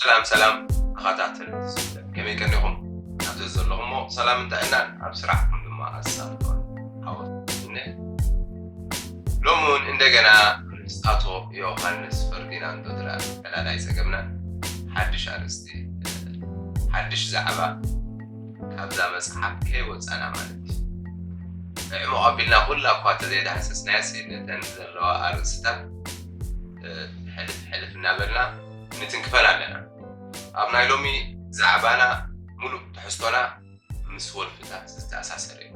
ሰላም ሰላም ኣኻታትን ዝስለ ከመይ ቀኒኹም ኣብዚ ዘለኹሞ ሰላም እንተዕናን ኣብ ስራሕኩም ድማ ኣሳልጦን ሃወትነ ሎሚ እውን እንደገና ኣቶ ዮሃንስ ፈርዲናንዶ ድራ ዕላላይ ፀገምና ሓድሽ ኣርእስቲ ሓድሽ ዛዕባ ካብዛ መፅሓፍ ከይወፃና ማለት እዩ ዕሙቕ ኣቢልና ኩላ እኳ ተዘይዳህሰስናያሲ ነተን ዘለዋ ኣርእስታት ሕልፍ ሕልፍ እናበልና ክንትንክፈን ኣለና ኣብ ናይ ሎሚ ዛዕባና ሙሉእ ትሕዝቶና ምስ ወልፍታት ዝተኣሳሰረ እዩ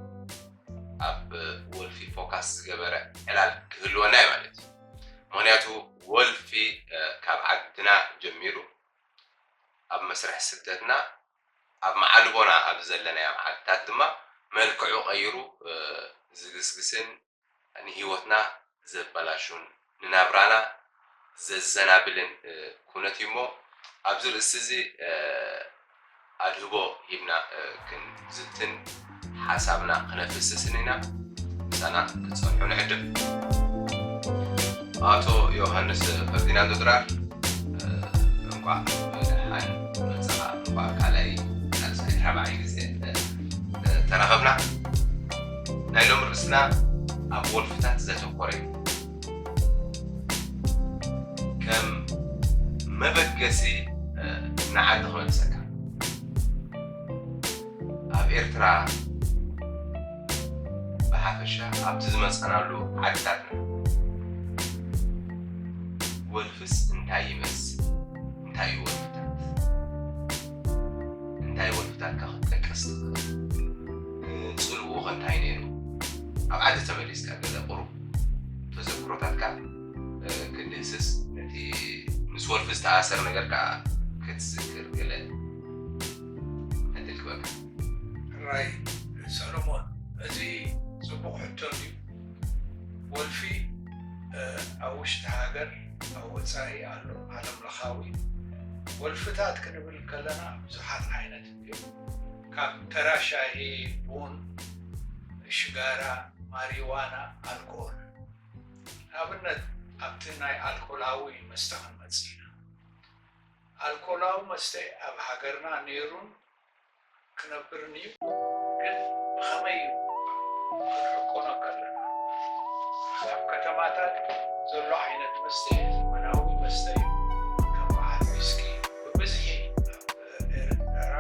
ኣብ ወልፊ ፎካስ ዝገበረ ዕላል ክህልወና እዩ ማለት እዩ ምክንያቱ ወልፊ ካብ ዓድና ጀሚሩ ኣብ መስርሕ ስደትና ኣብ መዓልቦና ኣብ ዘለናዮም ዓድታት ድማ መልክዑ ቀይሩ ዝግስግስን ንህይወትና ዘበላሹን ንናብራና ዘዘናብልን ኩነት እዩ እሞ ኣብዚ ርእሲ እዚ ኣድህቦ ሂብና ክንዝትን ሓሳብና ክነፍስስን ኢና። ምሳና ክትጸንሑ ንዕድም። ኣቶ ዮሃንስ ፈርዲናንዶ ድራር እንቋዕ ብደሓን መጻኻ እንቋዕ ካልኣይ ሳልሳይ ራብዓይ ግዜ ተራኸብና ናይ ሎም ርእስና ኣብ ወልፍታት ዘተኮረ እዩ ከም መበገሲ ንዓዲ ክመልሰካ ኣብ ኤርትራ ብሓፈሻ ኣብቲ ዝመጻናሉ ዓድታትና ወልፍስ እንታይ ይመስል? እንታይ እዩ ወልፍታት? እንታይ ወልፍታትካ ክትጠቀስ ትኽእል? ጽልውኡ ከ እንታይ ነይሩ? ኣብ ዓዲ ተመሊስካ ገለ ቁሩብ ተዘክሮታትካ ክትድህስስ ነቲ ምስ ወልፊ ዝተኣሰር ነገር ከዓ ክትዝክር ገለ ዕድል ክበካ ሕራይ ሰሎሞን እዚ ጽቡቕ ሕቶ እዩ ወልፊ ኣብ ውሽጢ ሃገር ኣብ ወጻኢ ኣሎ ዓለም ለኻዊ ወልፍታት ክንብል ከለና ብዙሓት ዓይነት እዩ ካብ ተራ ሻሂ ቡን ሽጋራ ማሪዋና ኣልኮል ንኣብነት ኣብቲ ናይ ኣልኮላዊ መስተ ክንመጽእ ኢና ኣልኮላዊ መስተ ኣብ ሃገርና ነይሩን ክነብርንዩ ግን ብከመይ እዩ ክንዕቆኖ ከለና ኣብ ከተማታት ዘሎ ዓይነት መስተ ዘመናዊ መስተ እዩ ከም በዓል ዊስኪ ብብዝሒ ኣብ ኤረትራ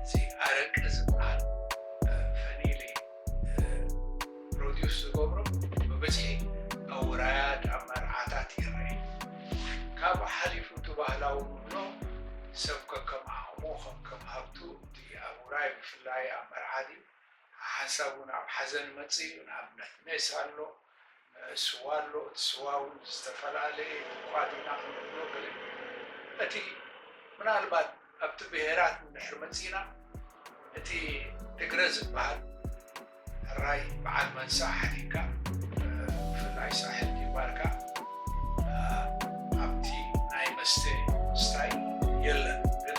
እዚ ኣረቂ ዝብሃል ፈኒል እዩ። ፕሮዲስ ዝገብሮ ብብዝሒ ኣውራያድ ኣብ መርዓታት ይረአ ካብኡ ሓሊፉ እቲ ባህላዊ ንብሎ ሰብ ከከም ዓቕሙ ከከም ሃብቱ እቲ ኣብ ውራይ ብፍላይ ኣብ መርዓ ድዩ ሓሓንሳብ እውን ኣብ ሓዘን መፅእ እዩ ንኣብነት ሜስ ኣሎ ስዋ ኣሎ እቲ ስዋ ውን ዝተፈላለየ እኳ ዲና ክንብሎ ግን እቲ ምናልባት ኣብቲ ብሄራት እንድሕር መጺእና እቲ ትግረ ዝብሃል ሕራይ ብዓል መንሳ ሓዲግካ ብፍላይ ሳሕል ጊባርካ ኣብቲ ናይ መስተ ምስታይ የለን ግን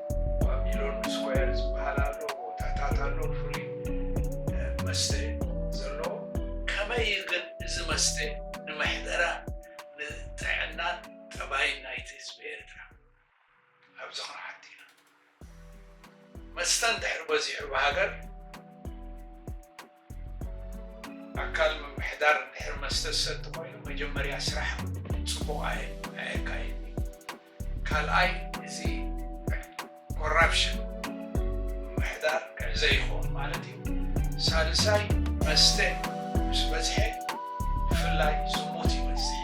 ባቢሎን ስኳየር ዝበሃል ኣሎ ቦታታት ኣሎ ፍሉይ መስተ ዘለዎ ከመይ እዩ ግን እዚ መስተ ንመሕደራ ንጥዕናን ጠባይን ናይቲ ህዝቢ ኤርትራ ኣብዚ ክንሓት ኢና መስተ እንድሕር በዚሑ ብሃገር ኣካል ምምሕዳር እንድሕር መስተ ዝሰቲ ኮይኑ መጀመርያ ስራሕ ፅቡቅ ኣየካይድን እዩ ካልኣይ እዚ ኮራፕሽን ምምሕዳር ክዕዘ ይከውን ማለት እዩ ሳልሳይ መስተ ምስ በዝሐ ብፍላይ ዝሙት ይበዝሕ፣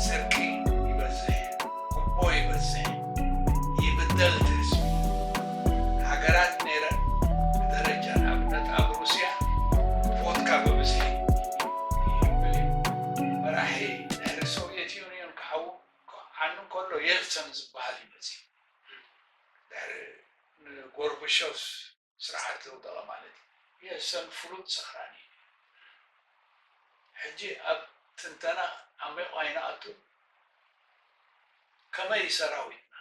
ስርቂ ይበዝሕ፣ ጉቦ ይበዝሕ፣ ይብደል እቲ ህዝቢ። ሃገራት ነይረን ብደረጃ ንኣብነት ኣብ ሩስያ ቮድካ ብብዝሒ ይብል እዩ። መራሒ ድሕሪ ሶቭየት ዩንዮን ክሓው ክዓኑ እንከሎ የልትሰን ዝበሃል እዩ መጺኡ። ድሕሪ ንጎርብሾቭ። ስርዓት ዘውደቐ ማለት እዩ። የሰን ፍሉጥ ሰኽራኒ እዩ። ሕጂ ኣብ ትንተና ዓሚቝ ኣይንኣቱን። ከመይ እዩ ሰራዊትና?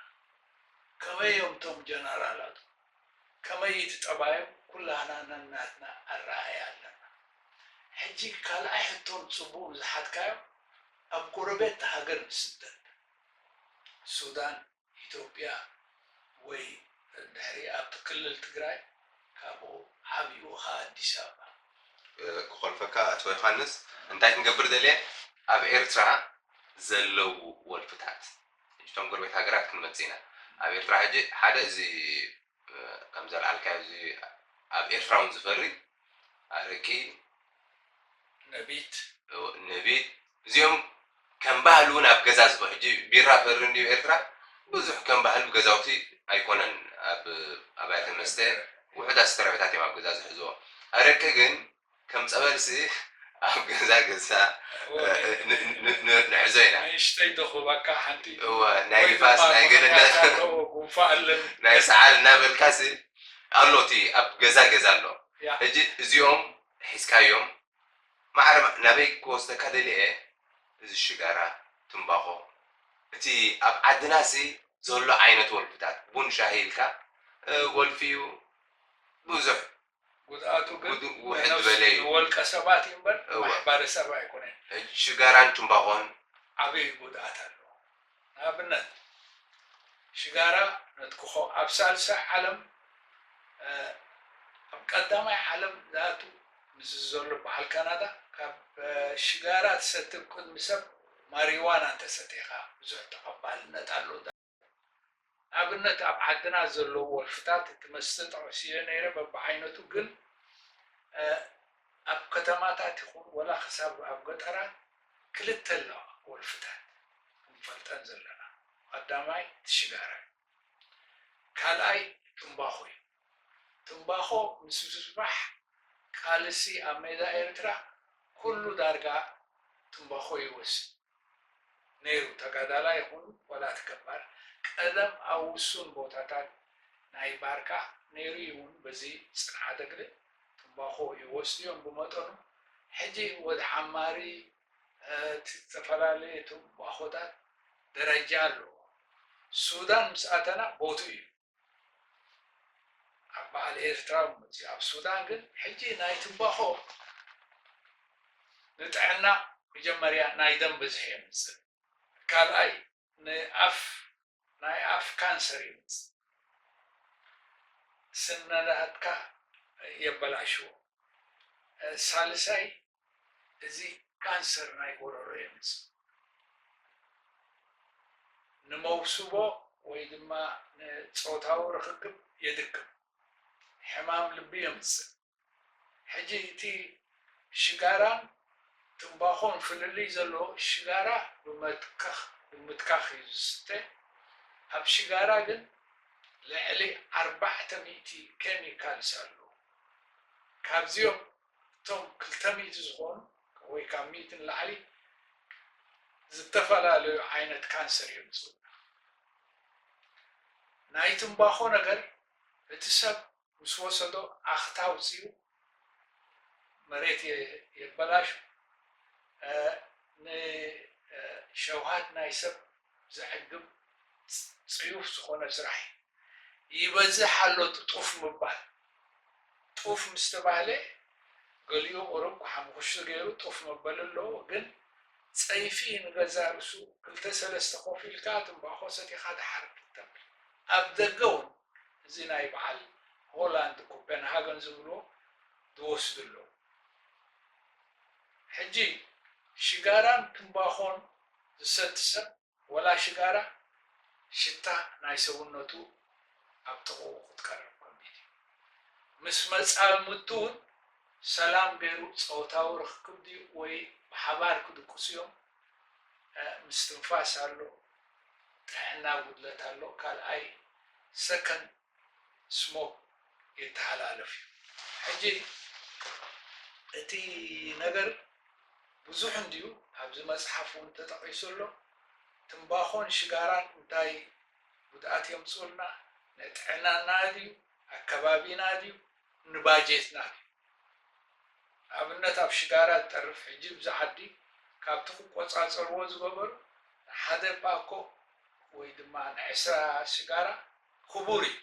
ከመይ እዮም እቶም ጀነራላቱ? ከመይ እዩ እቲ ጠባዮም? ኩላህና ነናትና ኣረኣእያ ኣለና። ሕጂ ካልኣይ ሕቶ ንጽቡቕ ንዝሓትካዮ ኣብ ጎረቤት ሃገር ንስደድ። ሱዳን፣ ኢትዮጵያ ወይ እንድሕሪ ኣብቲ ክልል ትግራይ ካብኡ ዓብዩ ኸኣ ኣዲስ ኣበባ። ክኾልፈካ ኣቶ ዮሃንስ እንታይ ክንገብር ደልየ ኣብ ኤርትራ ዘለዉ ወልፍታት ሕጂ እቶም ጎረቤት ሃገራት ክንመጽእ ኢና ኣብ ኤርትራ ሕጂ ሓደ እዚ ከም ዘልዓልካዮ እዚ ኣብ ኤርትራ ውን ዝፈሪ ኣረቂ ነቢት ነቢት እዚኦም ከም ባህሊ ውን ኣብ ገዛ ዝፈ ሕጂ ቢራ ፈሪ እንድዩ ኤርትራ ብዙሕ ከም ባህሊ ብ ገዛውቲ ኣይኮነን ኣብ ኣብያተ መስተ ውሑዳት ዝተረፈታት እዮም ኣብ ገዛ ዝሕዝዎ ኣረቂ ግን ከም ጸበልሲ ኣብ ገዛ ገዝና ንሕዞ ኢና። ንእሽተይ ዶ ክህበካ ሓንቲ? እወ፣ ናይ ንፋስ፣ ናይ ገለ እንዳ ናይ ሰዓል እናበልካሲ ኣሎ እቲ ኣብ ገዛ ገዛ ኣሎ። ሕጂ እዚኦም ሒዝካዮም ማዕረ ናበይ ክወስደካ ደሊየ እዚ ሽጋራ፣ ትምባኾ፣ እቲ ኣብ ዓድናሲ ዘሎ ዓይነት ወልፍታት ቡን ሻሂ ኢልካ ወልፊ'ዩ ብዙሕ ጉድኣቱ ግን ጉድኡ ናይ ውሕድ ነብሱ ዝበለ እዩ። ንወልቀ ሰባት እዩ እምበር እወ። ንማሕባረ ሰብ ኣይኮነን። ሕጂ ሽጋራን ቱምባኾን ዓብይ ጉድኣት ኣለዎ። ንኣብነት ሽጋራ ነትክኾ ኣብ ሳልሳይ ዓለም ኣብ ቀዳማይ ዓለም ዝኣቱ ምስዚ ዘሎ በዓል ካናዳ ካብ ሽጋራ ትሰቲ ብ ቅድሚ ሰብ ማሪዋና እንተሰቲኻ ብዙሕ ተቐባልነት ኣሎ ንኣብነት ኣብ ዓድና ዘለዉ ወልፍታት እቲ መስተ ጠቂሲዮ ነይረ በብዓይነቱ ግን ኣብ ከተማታት ይኹን ወላ ክሳብ ኣብ ገጠራት ክልተ ኣለዋ ወልፍታት ክንፈልጠን ዘለና ቀዳማይ እቲ ሽጋራ እዩ ካልኣይ ትምባኾ እዩ ትምባኾ ምስ ምስፋሕ ቃልሲ ኣብ ሜዳ ኤርትራ ኩሉ ዳርጋ ትምባኾ ይወስድ ነይሩ ተጋዳላይ ይኹን ዋላ እቲ ገባር ቀደም ኣብ ውሱን ቦታታት ናይ ባርካ ነይሩ እዩ ውን በዚ ጽንዓተ ግደ ትምባኾ ይወስዱ እዮም ብመጠኑ ሕጂ ወድ ሓማሪ እቲ ዝተፈላለየ ትምባኾታት ደረጃ ኣለዎ ሱዳን ምስ ኣተና ቦትኡ እዩ ኣብ በዓል ኤርትራ መጺኡ ኣብ ሱዳን ግን ሕጂ ናይ ትንባኾ ንጥዕና መጀመርያ ናይ ደም ብዝሒ የምጽእ ካልኣይ ንኣፍ ናይ ኣፍ ካንሰር የምጽእ ስነዳትካ የበላሽዎ ሳልሳይ እዚ ካንሰር ናይ ጎሮሮ የምጽእ። ንመውስቦ ወይ ድማ ንጾታዊ ርኽክብ የድክም። ሕማም ልቢ የምጽእ። ሕጂ እቲ ሽጋራን ትምባኾን ፍልልይ ዘለዎ ሽጋራ ብመትከኽ ብምትካኽ እዩ ዝስተ። ኣብ ሽጋራ ግን ልዕሊ ኣርባዕተ ሚእቲ ኬሚካልስ ኣለዉ። ካብዚኦም እቶም ክልተ ሚእቲ ዝኾኑ ወይ ካብ ሚእቲ ንላዕሊ ዝተፈላለዩ ዓይነት ካንሰር እዮም ዝጽውዑ። ናይ ትምባኾ ነገር እቲ ሰብ ምስ ወሰዶ ኣኽታ ኣውጺኡ መሬት የበላሹ፣ ንሸውሃት ናይ ሰብ ዘዕግብ ጽዩፍ ዝኾነ ስራሕ እዩ። ይበዝሕ ኣሎ ጥጡፍ ምባል። ጡፍ ምስ ተባህለ ገሊኡ ቁሩብ ሓሙኹሽቲ ገይሩ ጡፍ መበሊ ኣለዎ ግን ጸይፊ ንገዛእ ርእሱ ክልተ ሰለስተ ኮፍ ኢልካ ትምባኾ ሰቲኻ ደሓር ክትተብል ኣብ ደገ ውን እዚ ናይ በዓል ሆላንድ ኮፐንሃገን ዝብልዎ ዝወስዱ ኣለዉ። ሕጂ ሽጋራን ትምባኾን ዝሰቲ ሰብ ወላ ሽጋራ ሽታ ናይ ሰውነቱ ኣብ ጥቕኡ ክትቀርብ ከቢድ እዩ። ምስ መጻምድቱ ውን ሰላም ገይሩ ጸወታዊ ርኽክብ ድዩ ወይ ብሓባር ክድቅሱ እዮም ምስትንፋስ ኣሎ ጥዕና ጉድለት ኣሎ ካልኣይ ሰከንድ ስሞክ ይተሓላለፍ እዩ ሕጂ እቲ ነገር ብዙሕ እንድዩ ኣብዚ መጽሓፍ ውን ተጠቒሱ ኣሎ ትምባኾን ሽጋራን እንታይ ጉድኣት የምጽኡልና ንጥዕናና ድዩ ኣከባቢና ድዩ ንባጀትና ድዩ ንኣብነት ኣብ ሽጋራ ዝጠርፍ ሕጂ ብዚ ዓዲ ካብቲ ክቆጻጸርዎ ዝገበሩ ንሓደ ፓኮ ወይ ድማ ንዕስራ ሽጋራ ክቡር እዩ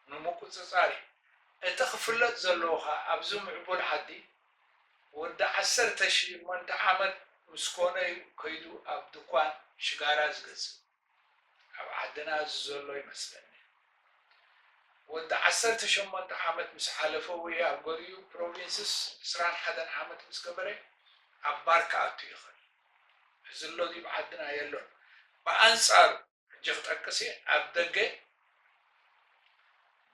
ንምቁጽጻር እዩ እቲ ክፍለጥ ዘለዎ ከኣ ኣብዚ ምዕቡል ዓዲ ወዲ ዓሰርተ ሸሞንተ ዓመት ምስ ኮነ እዩ ከይዱ ኣብ ድኳን ሽጋራ ዝገዝእ ኣብ ዓድና እዚ ዘሎ ይመስለኒ ወዲ ዓሰርተ ሸሞንተ ዓመት ምስ ሓለፈ ወይ ኣብ ገሊኡ ፕሮቪንስስ ዕስራን ሓደን ዓመት ምስ ገበረ ኣብ ባር ክኣቱ ይኽእል እዚ ኣሎ ድዩ ዓድና የሎን ብኣንጻሩ ሕጂ ክጠቅስ እየ ኣብ ደገ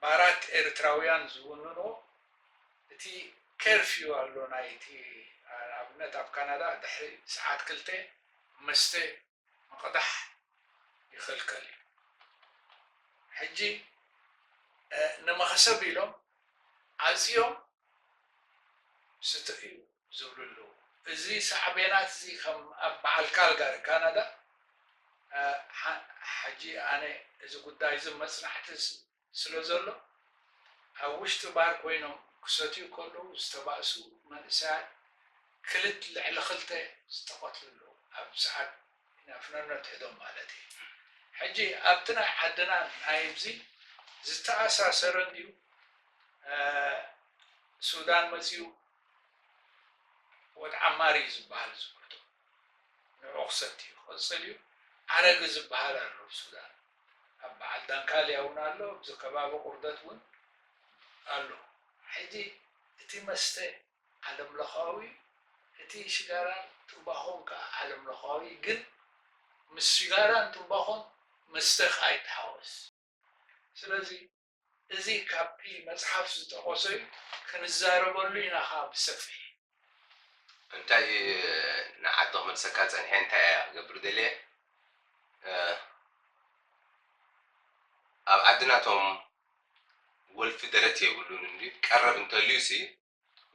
ባራት ኤርትራውያን ዝውንንዎ እቲ ከርፍዩ ኣሎ ናይ እቲ ንኣብነት ኣብ ካናዳ ድሕሪ ሰዓት ክልተ መስተ ምቕዳሕ ይኽልከል እዩ ሕጂ ንመኸሰብ ኢሎም ዓጽዮም ስትእዩ ዝብሉ ኣለዉ። እዚ ሳዕቤናት እዚ ከም ኣብ በዓል ካልጋሪ ካናዳ ሕጂ ኣነ እዚ ጉዳይ እዚ መጽናዕቲ ስለ ዘሎ ኣብ ውሽጢ ባር ኮይኖም ክሰትዩ ከለዉ ዝተባእሱ መንእሰያት ክልት ልዕሊ ክልተ ዝተቐትሉ ኣለዉ ኣብ ሰዓት ነፍነኖ ትሕዶም ማለት እየ ሕጂ ኣብቲ ናይ ዓድና ናይብዚ ዝተኣሳሰረ እንድዩ ሱዳን መጽዩ ወድ ዓማር እዩ ዝባሃል እዚ ኩርቶ ንዑ ክሰቲ እዩ ክቅጽል እዩ ኣረግ ዝባሃል ኣሎ ኣብ ሱዳን ኣብ በዓል ዳንካልያ እውን ኣሎ ኣብዚ ከባቢ ቁርደት እውን ኣሎ ሕጂ እቲ መስተ ዓለም ለኻዊ እዩ እቲ ሽጋራን ትምባኾን ከኣ ዓለም ለኻዊ እዩ ግን ምስ ሽጋራን ትምባኾን መስተኽ ኣይተሓወስ ስለዚ እዚ ካብቲ መጽሓፍ ዝጠቐሶ'ዩ ክንዛረበሉ ኢና ከኣ ብሰፊሕ። እንታይ እዩ ንዓዲ ክመልሰካ ጸኒሐ እንታይ እየ ክገብር ደልየ ኣብ ዓድና እቶም ወልፊ ደረት የብሉን እንድዩ ቀረብ እንተልዩሲ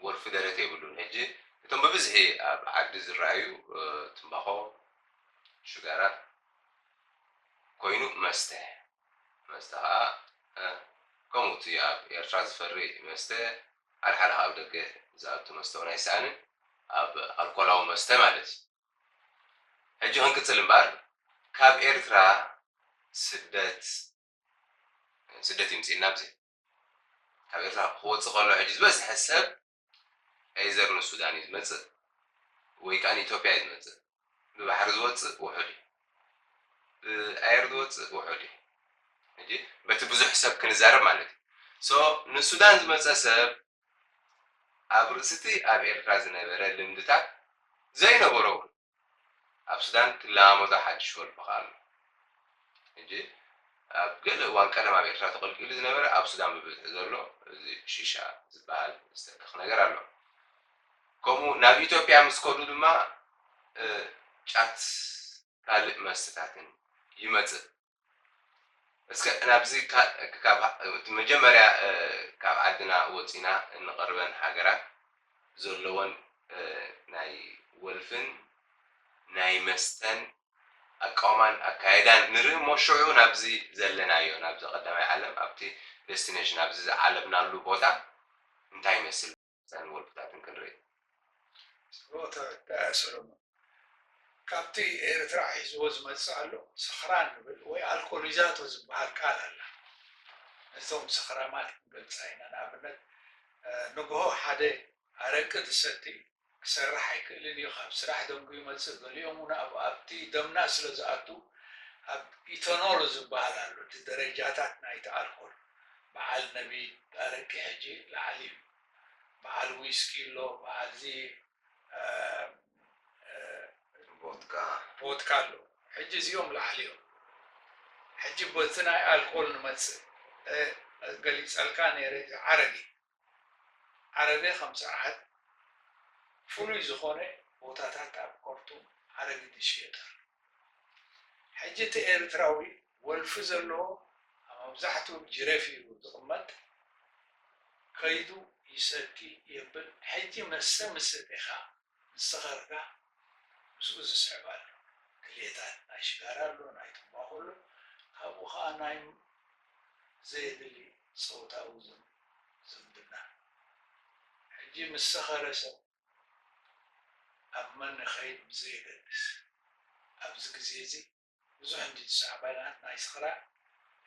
ወልፊ ደረት የብሉን ሕጂ እቶም ብብዝሒ ኣብ ዓዲ ዝረኣዩ ትምባኾ ሽጋራ ኮይኑ መስተ መስተ ከኣ ከምኡ እቲ ኣብ ኤርትራ ዝፈሪ መስተ ሓልሓል ካብ ደገ ዝኣቱ መስተ ውን ኣይሰኣንን ኣብ ኣልኮላዊ መስተ ማለት እዩ ሕጂ ክንቅጽል እምበኣር ካብ ኤርትራ ስደት ስደት ይምጽእልና ብዘይ ካብ ኤርትራ ክወጽእ ከሎ ሕጂ ዝበዝሐ ሰብ ኤይዘር ንሱዳን እዩ ዝመጽእ ወይ ከኣ ንኢትዮጵያ እዩ ዝመጽእ። ብባሕሪ ዝወጽእ ውሑድ እዩ። ብኣየር ዝወጽእ ውሑድ እዩ። ሕጂ በቲ ብዙሕ ሰብ ክንዛረብ ማለት እዩ። ሶ ንሱዳን ዝመጸ ሰብ ኣብ ርእሲቲ ኣብ ኤርትራ ዝነበረ ልምድታት ዘይነበሮ እውን ኣብ ሱዳን ትለማመዶ ሓድሽ ወርዲ ከኣ ኣሎ ሕጂ ኣብ ገለ እዋን ቀደም ኣብ ኤርትራ ተቐልቂሉ ዝነበረ ኣብ ሱዳን ብብዝሒ ዘሎ እዚ ሺሻ ዝበሃል ዝተክኽ ነገር ኣሎ ከምኡ ናብ ኢትዮጵያ ምስ ከዱ ድማ ጫት ካልእ መስተታትን ይመጽእ እስከ ናብዚ ካብ መጀመርያ ካብ ዓድና ወጺና እንቐርበን ሃገራት ዘለወን ናይ ወልፍን ናይ መስተን ኣቃውማን ኣካይዳን ንርኢ እሞ ሽዑ ናብዚ ዘለናዮ ናብዚ ቀዳማይ ዓለም ኣብቲ ደስቲነሽን ኣብዚ ዝዓለብናሉ ቦታ እንታይ ይመስል ሳሚ ወልፍታትን ክንርኢ። ጸሎተ ዳያ ሰሎሞን ካብቲ ኤርትራ ሒዝዎ ዝመጽእ ኣሎ ሰኽራን ንብል ወይ ኣልኮሊዛቶ ዝብሃል ቃል ኣላ ነዞም ሰኽራማት ክንገልጻ ኢና ንኣብነት ንግሆ ሓደ ኣረቂ ዝሰቲ ክሰርሕ ኣይክእልን እዩ ካብ ስራሕ ደንጉዩ ይመጽእ ገሊኦም ውን ኣብ ኣብቲ ደምና ስለ ዝኣቱ ኣብ ኢተኖል ዝብሃል ኣሎ እቲ ደረጃታት ናይቲ ኣልኮል በዓል ነቢት ኣረቂ ሕጂ ላዓል እዩ በዓል ዊስኪ ኣሎ በዓል እዚ ቦትካ ኣሎ ሕጂ እዚኦም ላዓል እዮም ሕጂ በቲ ናይ ኣልኮል ንመጽእ ገሊጸልካ ነይረ እዚ ዓረቂ ዓረቤ ከም ጽርዓት ፍሉይ ዝኾነ ቦታታት ኣብ ኮርቱም ኣረጊት ይሽየጥ ኣሎ። ሕጂ እቲ ኤርትራዊ ወልፊ ዘለዎ ኣብ ኣብዛሕትኡ ጅሬፍ እዩ ዝቕመጥ ከይዱ ይሰቲ የብል ሕጂ መሰ ምስ ሰቴኻ ንሰኻርካ ምስኡ ዝስዕብ ኣሎ ክሌታት ናይ ሽጋራ ኣሎ ናይ ትንባኾ ኣሎ ካብኡ ከኣ ናይ ዘየድሊ ጸውታዊ ዝምድና ሕጂ ምስ ሰኸረ ሰብ ኣብ መን ይኸይድ ብዘየገድስ ኣብዚ ግዜ እዚ ብዙሕ እንዲ ትሽዓባይናት ናይ ስኽራን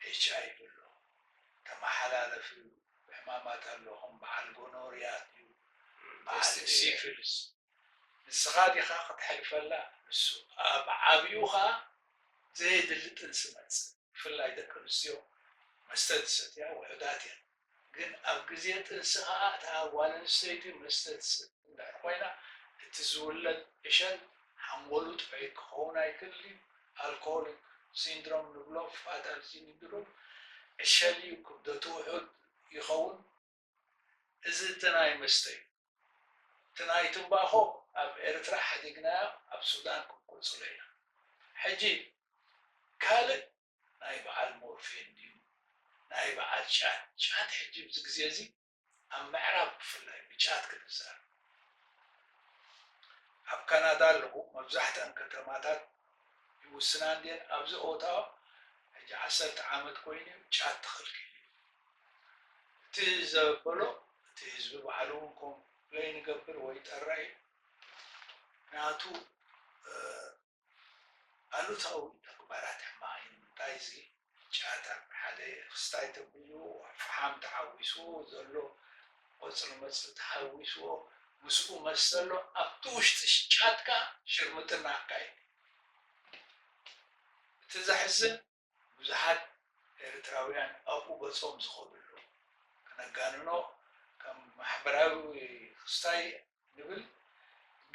ኤች ኣይ ቪ ኣሎ ተማሓላለፊ ሕማማት ኣሎ ከም በዓል ጎኖርያ ድዩ በዓል ሲፍልስ ንስኻ ዲኻ ከተሕልፈላ ንሱ ኣብ ዓብዩ ከኣ ዘየድሊ ጥንሲ መጽእ ብፍላይ ደቂ ኣንስትዮ መስተ ዝሰትያ ውሑዳት እየን ግን ኣብ ግዜ ጥንሲ ከኣ እታ ጓል ኣንስተይቲ መስተ ትሰቲ እንድሕር ኮይና እቲ ዝውለድ ዕሸል ሓንጎሉ ጥዑይ ክኸውን ኣይክእልን'ዩ፣ ኣልኮሆሊክ ሲንድሮም ንብሎ ፋታል ሲንድሮም ዕሸል'ዩ፣ ክብደቱ ውሑድ ይኸውን፣ እዚ እቲ ናይ መስተ'ዩ፣ እቲ ናይ ትምባኾ ኣብ ኤርትራ ሓዲግናዮ ኣብ ሱዳን ክንቅጽሎ ኢና፣ ሕጂ ካልእ ናይ በዓል ሞርፌን ድዩ ናይ በዓል ጫት ጫት ሕጂ ኣብዚ ግዜ እዚ ኣብ ምዕራብ ብፍላይ ብጫት ክድዛር እዩ ኣብ ካናዳ ኣለኩ መብዛሕትኣን ከተማታት ይውስና እንድየን ኣብዚ ኦታዋ ሕጂ ዓሰርተ ዓመት ኮይኑ እዩ ጫት ተኸልኪሉ እዩ እቲ ዘበሎ እቲ ህዝቢ ባዕሉ እውን ኮምፕለይን ይገብር ወይ ይጠርዕ እዩ ናቱ ኣሉታዊ ተግባራት ሕማቕ ኢዩ ንምንታይ እዚ ጫታ ሓደ ክስታይ ተብልዎ ኣብ ፍሓም ተሓዊስዎ ዘሎ ቆጽሊ መጽሊ ተሓዊስዎ ምስኡ መስ ዘሎ ኣብቲ ውሽጢ ጫትካ ሽርምጥና ኣካይድ እቲ ዘሕዝን ብዙሓት ኤርትራውያን ኣብኡ ገጾም ዝኸድሉ፣ ክነጋንኖ ከም ማሕበራዊ ክስታይ ንብል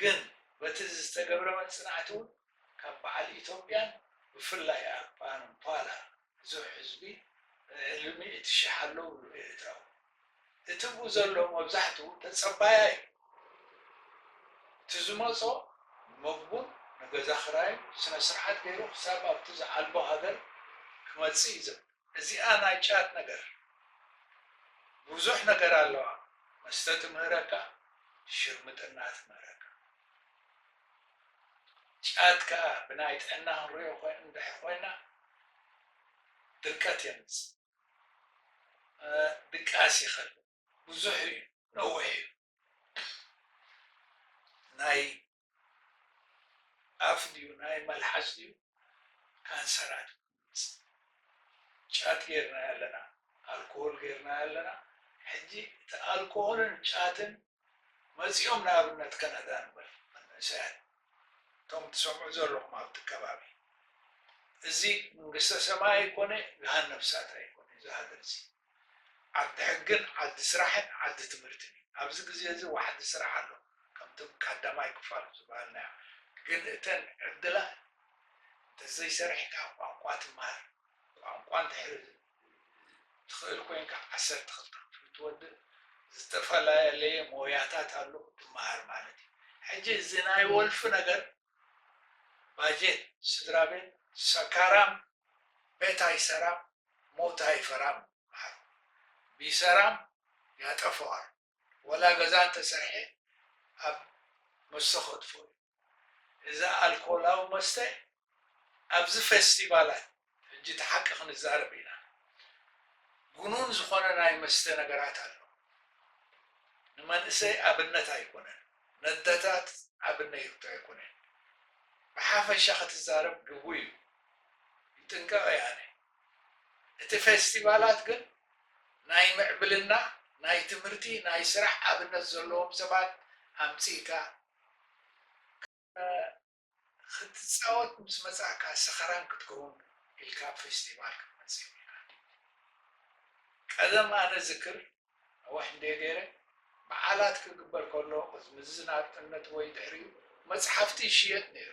ግን በቲ ዝተገብረ መጽናዕቲ'ውን ካብ በዓል ኢትዮጵያን ብፍላይ ኣብ ኣንፓላ ብዙሕ ህዝቢ ልዕሊ ሚእቲ ሽሕ ኣሎ እብሉ ኤርትራዊ። እቲብኡ ዘሎ መብዛሕትኡ ተጸባያይ እዩ። እቲ ዝመጾ መግቡን ንገዛ ክራዩን ስነስርዓት ገይሩ ክሳብ ኣብቲ ዝዓልቦ ሃገር ክመጽእ እዩ ዝብል። እዚኣ ናይ ጫት ነገር ብዙሕ ነገር ኣለዋ መስተ ትምህረካ ሽርምጥና ትምህረካ ጫት ከኣ ብናይ ጥዕና ክንሪኦ እንድሕር ኮይና ድርቀት የምጽእ። ድቃስ ይኸል ብዙሕ እዩ ነዊሕ እዩ ናይ ኣፍ ድዩ ናይ መልሓስ ድዩ ካንሰራት ጫት ጌርና ኣለና ኣልኮሆል ጌርና ኣለና ሕጂ እቲ ኣልኮሆልን ጫትን መጺኦም ንኣብነት ከናዳ ንበል መንእሰያት እቶም ትሰምዑ ዘለኹም ኣብቲ ከባቢ እዚ ምንግስተ ሰማይ ኣይኮነ ገሃነብ እሳት ኣይኮነ እዚ ሃገር እዚ ዓዲ ሕግን ዓዲ ስራሕን ዓዲ ትምህርትን እዩ ኣብዚ ግዜ እዚ ዋሕዲ ስራሕ ኣሎ ከምቲ ቀዳማይ ክፋል ዝበሃልናዮ ግን እተን ዕድላት እንተዘይሰሪሕካ ቋንቋ ትመሃር ቋንቋ እንድሕሪ ትኽእል ኮይንካ ዓሰርተ ክልተ ክፍሊ ትወድእ ዝተፈላልየ ሞያታት ኣሎ ትመሃር ማለት እዩ ሕጂ እዚ ናይ ወልፊ ነገር ባጀት ስድራቤት ሰካራም ቤት ኣይሰራም ሞት ኣይፈራም በሃሉ ቢሰራም ያጠፈዋል ወላ ገዛ እንተሰርሔ ኣብ መስተ ከጥፎ እዩ እዛ ኣልኮላዊ መስተ ኣብዚ ፈስቲቫላት ሕጂ እቲ ሓቂ ክንዛረብ ኢና ግኑን ዝኾነ ናይ መስተ ነገራት ኣሎ ንመንእሰይ ኣብነት ኣይኮነን ነደታት ኣብነይቱ ኣይኮነን ብሓፈሻ ክትዛረብ ግጉይ እዩ ይጥንቀቕ እየ ኣነ እቲ ፈስቲቫላት ግን ናይ ምዕብልና ናይ ትምህርቲ ናይ ስራሕ ኣብነት ዘለዎም ሰባት ኣምጺእካ ክትጻወት ምስ መጻእካ ሰኽራን ክትከውን ኢልካ ኣብ ፌስቲቫል ክትመጽእ የብልካን ድዩ ቀደም ኣነ ዝክር ኣብ ዋሕንዴ ገይረ በዓላት ክግበር ከሎ ቅዝምዝዝ ናጽነት ወይ ድሕሪኡ መጽሓፍቲ ይሽየጥ ነይሩ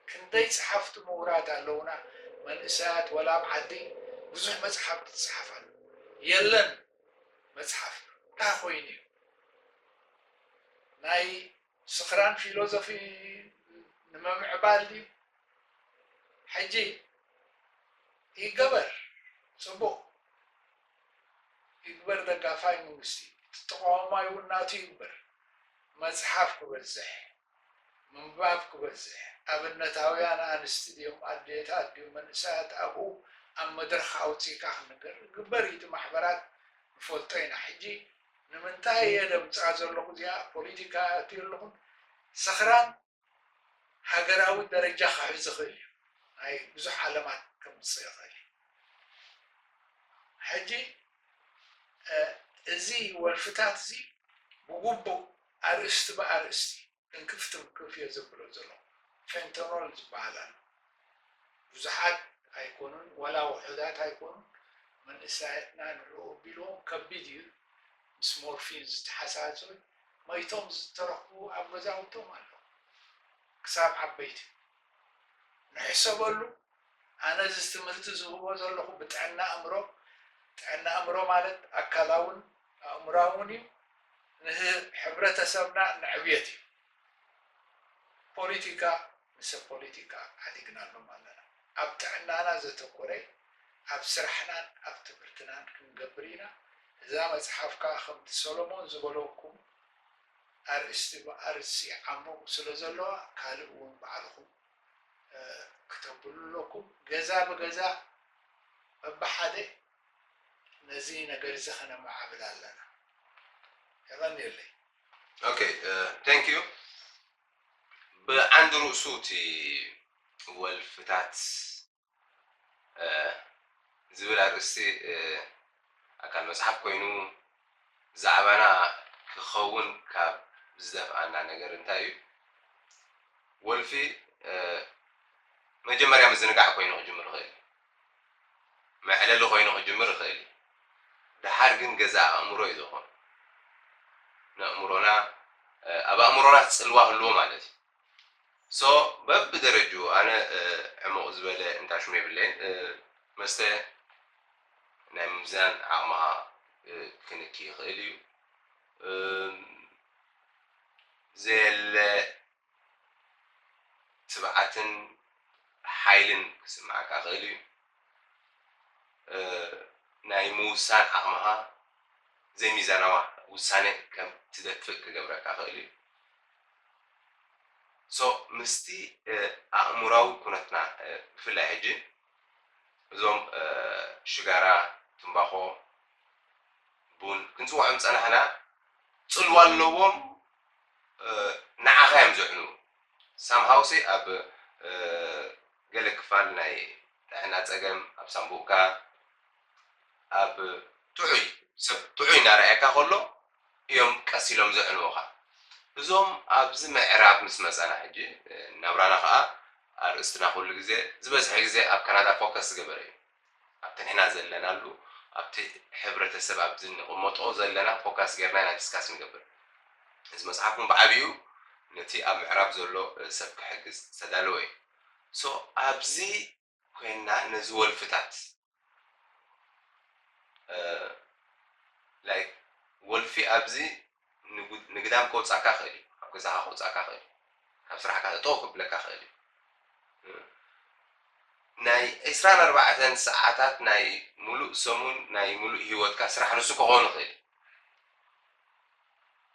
ክንደይ ጸሓፍቲ ምሁራት ኣለውና መንእሰያት ወላ ኣብ ዓዲ ብዙሕ መጽሓፍቲ ትጽሓፍ ኣሎ የለን መጽሓፍ እንታይ ኮይኑ እዩ ናይ ስኽራን ፊሎዞፊ ንምምዕባል ድዩ? ሕጂ ይገበር ጽቡቅ ይግበር ደጋፋይ መንግስቲ እዩ እቲ ተቃዋማይ እውን ናቱ ይግበር መጽሓፍ ክበዝሕ ምንባብ ክበዝሕ ኣብነታውያን ኣንስቲ ድዮም ኣዴታት ድዩ መንእሰያት ኣብኡ ኣብ መድረኽ ኣውጺእካ ክንገር ግበር እዩ እቲ ማሕበራት ንፈልጦ ኢና ሕጂ ንምንታይ እየ ደምጽኣ ዘለኹ እዚኣ ፖሊቲካ ኣእትዮ ኣለኹን ሰኽራን ሃገራዊ ደረጃ ክሕዝ ይኽእል እዩ ናይ ብዙሕ ዓለማት ከምጽእ ይኽእል እዩ ሕጂ እዚ ወልፍታት እዚ ብጉቡእ ኣርእስቲ ብኣርእስቲ ዕንክፍ ትንክፍ እየ ዘብሎ ዘለኹ ፌንተኖል ዝበሃል ኣሎ ብዙሓት ኣይኮኑን ዋላ ውሑዳት ኣይኮኑን መንእሰያትና ንዕኡ ኣቢሎም ከቢድ እዩ ምስ ሞርፊን ዝተሓሳሶይ መይቶም ዝተረኽቡ ኣብ ገዛውቶም ኣለዉ ክሳብ ዓበይቲ ንሕሰበሉ ኣነ እዚ ትምህርቲ ዝህቦ ዘለኹ ብጥዕና ኣእምሮ፣ ጥዕና ኣእምሮ ማለት ኣካላውን ኣእምሮኣውን እዩ፣ ንህብረተሰብና ንዕብየት እዩ። ፖሊቲካ ምሰ ፖሊቲካ ዓዲግናሎም ኣለና። ኣብ ጥዕናና ዘተኮረ ኣብ ስራሕናን ኣብ ትምህርትናን ክንገብር ኢና። እዛ መጽሓፍ ከኣ ከምቲ ሰሎሞን ዝበለኩም ኣርእስቲ ብኣርእስቲ ይዓምቑ ስለዘለዋ ካልእ እውን ባዕልኹም ክተብሉ ኣለኩም ገዛ ብገዛ በብሓደ ነዚ ነገር እዚ ከነማዕብል ኣለና የቀንየለይ። ኦኬ ቴንክ ዩ ብዓንዲ ርእሱ እቲ ወልፍታት ዝብል ኣርእስቲ ኣካል መጽሓፍ ኮይኑ ዛዕባና ክኸውን ካብ ዝደፍኣና ነገር እንታይ እዩ? ወልፊ መጀመርያ ምዝንጋዕ ኮይኑ ክጅምር ይኽእል እዩ። መዕለሊ ኮይኑ ክጅምር ይኽእል እዩ። ደሓር ግን ገዛ ኣእምሮ እዩ ዘኾኑ። ንእምሮና ኣብ ኣእምሮና ጽልዋ ህልዎ ማለት እዩ። so በብደረጅኡ ኣነ ዕሙቕ ዝበለ እንታሽሙ የብለይን መስተ ናይ ምምዛን ዓቕምኻ ክንኪ ይኽእል እዩ ዘየለ ትብዓትን ሓይልን ክስምዓካ ይኽእል እዩ ናይ ምውሳን ዓቕምኻ ዘይሚዛናዊ ውሳነ ከም ትደፍእ ክገብረካ ይኽእል እዩ So ምስቲ ኣእምሮኣዊ ኩነትና ብፍላይ ሕጂ እዞም ሽጋራ ትምባኾ ቡን ክንጽውዖም ዝጸናሕና ጽልዋ ኣለዎም ንዓኻ እዮም ዘዕንዉ somehow ሲ ኣብ ገለ ክፋል ናይ ጥዕና ጸገም ኣብ ሳንቡእካ ኣብ ጥዑይ ሰብ ጥዑይ እናረኣየካ ከሎ እዮም ቀስ ኢሎም ዘዕንዉኻ። እዞም ኣብዚ ምዕራብ ምስ መጻና ሕጂ ናብራና ከኣ ኣርእስትና ኩሉ ግዜ ዝበዝሐ ግዜ ኣብ ካናዳ ፎከስ ዝገበረ እዩ። ኣብቲ ንሕና ዘለናሉ ኣብቲ ሕብረተሰብ ኣብዚ ንቕመጦ ዘለና ፎካስ ጌርና ኢና ዲስካስ ንገብር። እዚ መጽሓፍ ውን ብዓቢኡ ነቲ ኣብ ምዕራብ ዘሎ ሰብ ክሕግዝ ዝተዳለወ እዩ። ሶ ኣብዚ። ኮይንና ነዚ ወልፍታት like ወልፊ ኣብዚ ንግዳም ከውጻካ ይክእል እዩ ካብ ገዛካ ከውጻካ ይክእል እዩ ካብ ስራሕካ ጠጠው ከብለካ ይክእል እዩ ናይ ዕስራን ኣርባዕተን ሰዓታት ናይ ሙሉእ ሰሙን ናይ ሙሉእ ሂወትካ ስራሕ ንሱ ከኮን ይክእል እዩ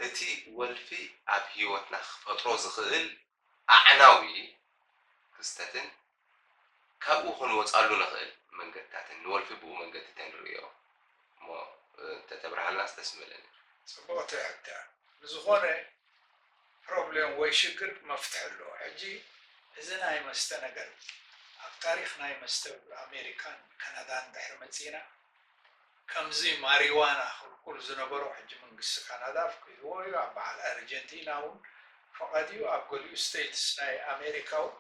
እቲ ወልፊ ኣብ ሂወትና ክፈጥሮ ዝክእል ኣዕናዊ ክስተትን ካብኡ ክንወጻሉ ንኽእል መንገድታትን ንወልፊ ብኡ መንገዲ ተንርእዮ እሞ እንተተብርሃልናስ ደስ ምበለኒ። ጽቡቅ ትሕተ ንዝኮነ ፕሮብሌም ወይ ሽግር መፍትሒ ኣለዎ ሕጂ እዚ ናይ መስተ ነገር ኣብ ታሪክ ናይ መስተ ኣሜሪካን ካናዳን ድሕሪ መጺእና ከምዚ ማሪዋና ክልኩል ዝነበሮ ሕጂ መንግስቲ ካናዳ ኣፍቂድዎ እዩ ኣብ በዓል ኣርጀንቲና ውን ፈቀድ እዩ ኣብ ገሊኡ ስተይትስ ናይ ኣሜሪካ ውን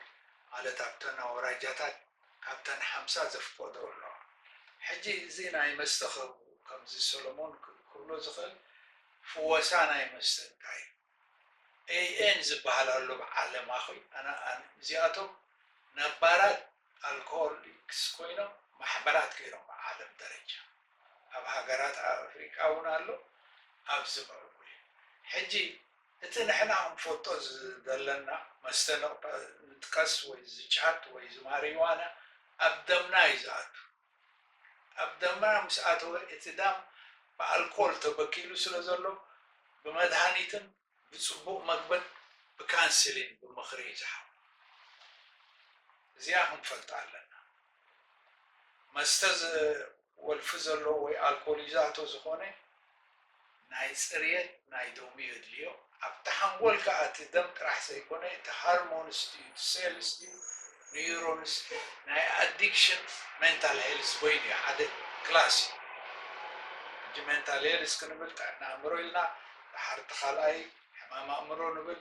ማለት ኣብተን ኣውራጃታት ካብተን ሓምሳ ዘፍቀድኦ ኣሎ ሕጂ እዚ ናይ መስተ ክህቡ ከምዚ ሰሎሞን ክብሎ ዝክእል ፍወሳ ናይ መስተ እንታይ እዩ AN ዝበሃል ኣሎ ኣብ ዓለም ኣኺ ኣን እዚኣቶም ነባራት ኣልኮሆሊክስ ኮይኖም ማሕበራት ገይሮም ብዓለም ደረጃ ኣብ ሃገራት ኣፍሪቃ ውን ኣሎ ኣብዚ ምዕቡል እዩ ሕጂ እቲ ንሕና ክንፎጦ ዝደለና መስተ ንጥቀስ ወይ እዚ ጫት ወይ እዚ ማሪዋና ኣብ ደምና እዩ ዝኣቱ ኣብ ደምና ምስ ኣተወ እቲ ደም ብኣልኮል ተበኪሉ ስለ ዘሎ ብመድሃኒትን ብጽቡቕ መግብን ብካንስሊን ብምኽሪ እዩ ዝሓዊ። እዚኣ ክንፈልጣ ኣለና። መስተ ዝወልፊ ዘሎ ወይ ኣልኮል ይዛቶ ዝኾነ፣ ናይ ጽርየት ናይ ደሙ የድልዮ ኣብቲ ሓንጎል ከኣ እቲ ደም ጥራሕ ዘይኮነ እቲ ሃርሞንስ ድዩ እቲ ሴልስ ድዩ ንዩሮንስ ናይ ኣዲክሽን ሜንታል ሄልዝ በይኑ እዩ ሓደ ክላስ እዩ ሕጂ ሜንታል ሄልዝ ክንብል ጥዕና ኣእምሮ ኢልና ድሓር እቲ ካልኣይ ሕማም ኣእምሮ ንብል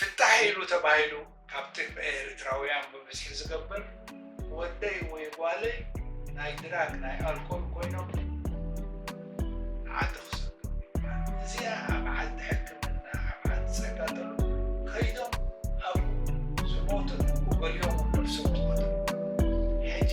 ፍታሕ ኢሉ ተባሂሉ ካብ ጥቅዒ ኤሪትራዊያን ብብዝሒ ዝገበር ወደይ ወይ ጓለይ ናይ ድራግ ናይ ኣልኮል ኮይኖም ዓዲ ክሰዱ ምባል እዚኣ ኣብ ዓዲ ሕክምና ኣብ ዓዲ ጸጋጠሉ ከይዶም ኣብኡ ዝሞቱን ብገሊኦም ነብሶም ዝቐተሉ ሕጂ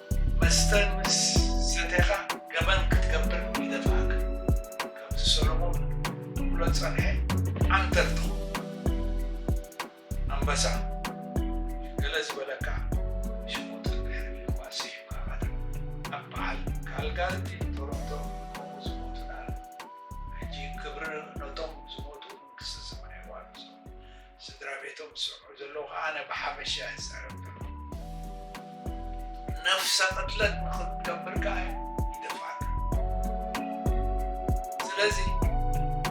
መስተ ምስ ሰቴኻ ገበን ክትገብር ይደፍኣካ ከምዚ ሰሎሞን ክብሎ ዝጸንሐ ዓንተር ትኸውን ኣንበሳ ገለ ዝበለካ ሽጉጥ እንድሕሪ ሊዋ ሲሒብካ ባታ ኣብ በዓል ካልጋሪ ቶሮንቶ ከምኡ ዝሞቱ ነኣረም ሕጂ ክብሪ ነቶም ዝሞቱ መንግስተ ሰማይ የዋርሶም ስድራ ቤቶም ዝሰምዑ ዘለዉ ከኣ ኣነ ብሓበሻ እየ ዝዛረብ ዘለኹ። ነፍሰ ቅትለት ንኽትገብር ከኣ ይደፍኣካ። ስለዚ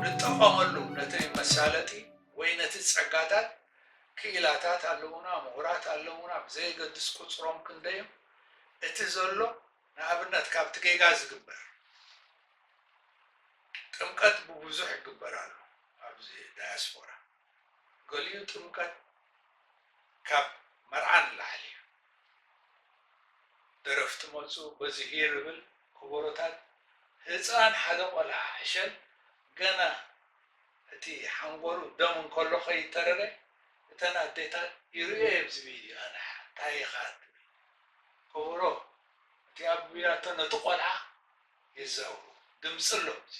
ንጠቐመሉ ነቲ መሳለጢ ወይ ነቲ ጸጋታት ክኢላታት ኣለዉና፣ ምሁራት ኣለዉና፣ ብዘየገድስ ቁጽሮም ክንደይ እዩ እቲ ዘሎ ንኣብነት ካብቲ ጌጋ ዝግበር ጥምቀት ብቡዙሕ ይግበር ኣሎ ኣብዚ ዳያስፖራ ገሊኡ ጥምቀት ካብ መርዓ ንላዕሊ እዩ ደረፍቲ መጹ በዚ ሂር እብል ኮቦሮታት ህጻን ሓደ ቆልዓ ዕሸል ገና እቲ ሓንጎሉ ደም እንከሎ ከይተረረ እተን ኣዴታት ይርእዮ እየ ኣብዚ ቪድዮ ኣንሓ ታይ ኢኻ ትብል ከበሮ እቲ ኣቢላቶ ነቲ ቆልዓ የዛውሮ ድምጺ ኣሎ እዚ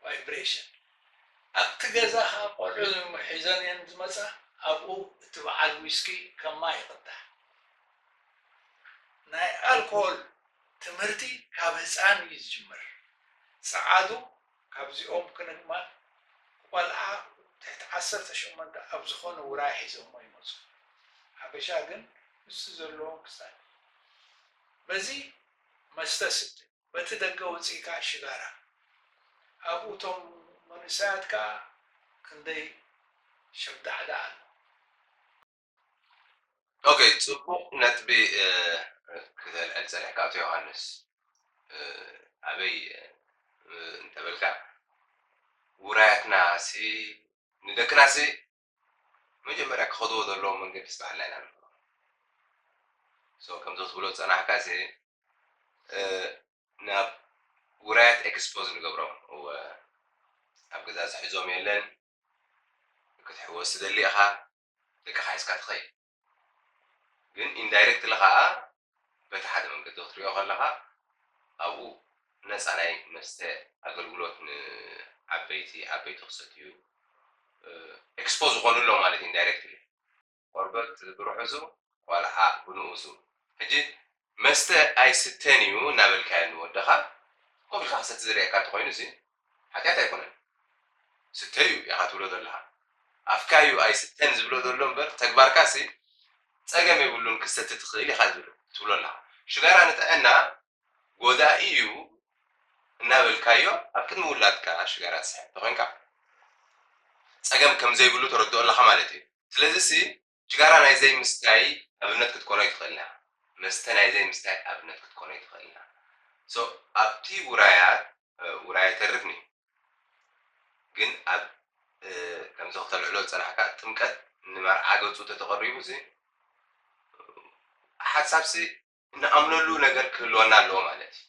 vibration ኣብቲ ገዛ ከኣ ቆልዑ ሒዘን እየን ዝመጻ ኣብኡ እቲ በዓል ዊስኪ ከም ማይ ይቅዳሕ ናይ ኣልኮል ትምህርቲ ካብ ህጻን እዩ ዝጅምር ጸዓዱ ካብዚኦም ክንግማል ቆልዓ ትሕቲ ዓሰርተ ሸሞንተ ኣብ ዝኾነ ውራይ ሒዘሞ ይመጹ። ሓበሻ ግን ምስቲ ዘለዎም ክሳድ በዚ መስተ ስተ በቲ ደገ ወጺኢ ከኣ ሽጋራ ኣብኡ እቶም መንእሰያት ከኣ ክንደይ ሸብዳዕዳ ኣሎ። ኦኬ ጽቡቕ ነጥቢ ክተልዕል ጸኒሕካ ኣቶ ዮሃንስ ኣበይ እንተበልካ ውራያትናሲ ንደቅናሲ መጀመርያ ክኸድዎ ዘለዎ መንገዲ ስባሕልና ኢና ንብሎ ከምዚ ክትብሎ ዝጸናሕካሲ ናብ ውራያት ኤክስፖዝ ንገብሮም ኣብ ገዛ ዝሕዞም የለን ክትሕወስ ትደሊ ኢኻ ደቅኻ ሒዝካ ትኸይድ ግን ኢንዳይረክትሊ ከኣ በቲ ሓደ መንገዲ ክትሪኦ ከለኻ ኣብኡ ነጻ ናይ መስተ ኣገልግሎት ንዓበይቲ ዓበይቲ ክሰትዩ ኤክስፖዝ ዝኾኑ ኣሎ ማለት ኢንዳይረክትሊ። ቆርበት ብርሑሱ ቆልዓ ብንኡሱ ሕጂ መስተ ኣይስተን እዩ እናበልካዮ ንወድኻ ኮፍ ኢልካ ክሰቲ ዝርእየካ እንተኾይኑሲ ሓጢኣት ኣይኮነን ስተ እዩ ኢኻ ትብሎ ዘለኻ ኣፍካ እዩ ኣይስተን ዝብሎ ዘሎ እምበር ተግባርካሲ ጸገም የብሉን ክሰቲ ትኽእል ኢኻ ዝብል ትብሎ ኣለኻ ሽጋራ ንጥዕና ጎዳኢ እዩ እናበልካዮ ኣብ ቅድሚ ውላድካ ሽጋራ ትስሕብ እንተኾይንካ ጸገም ከም ዘይብሉ ተረድኦ ኣለኻ ማለት እዩ ስለዚሲ ሽጋራ ናይ ዘይምስታይ ኣብነት ክትኮኖ ኣይትኽእልን'ያ። መስተ ናይ ዘይምስታይ ኣብነት ክትኮኖ ኣይትኽእልን'ያ። So ኣብቲ ውራያት ውራይ ኣይተርፍን'ዩ። ግን ኣብ ከምዚ ከተልዕሎ ዝጸናሕካ ጥምቀት ንመርዓ ገጹ ተተቐሪቡሲ ሓሳብሲ ንኣምነሉ ነገር ክህልወና ኣለዎ ማለት እዩ።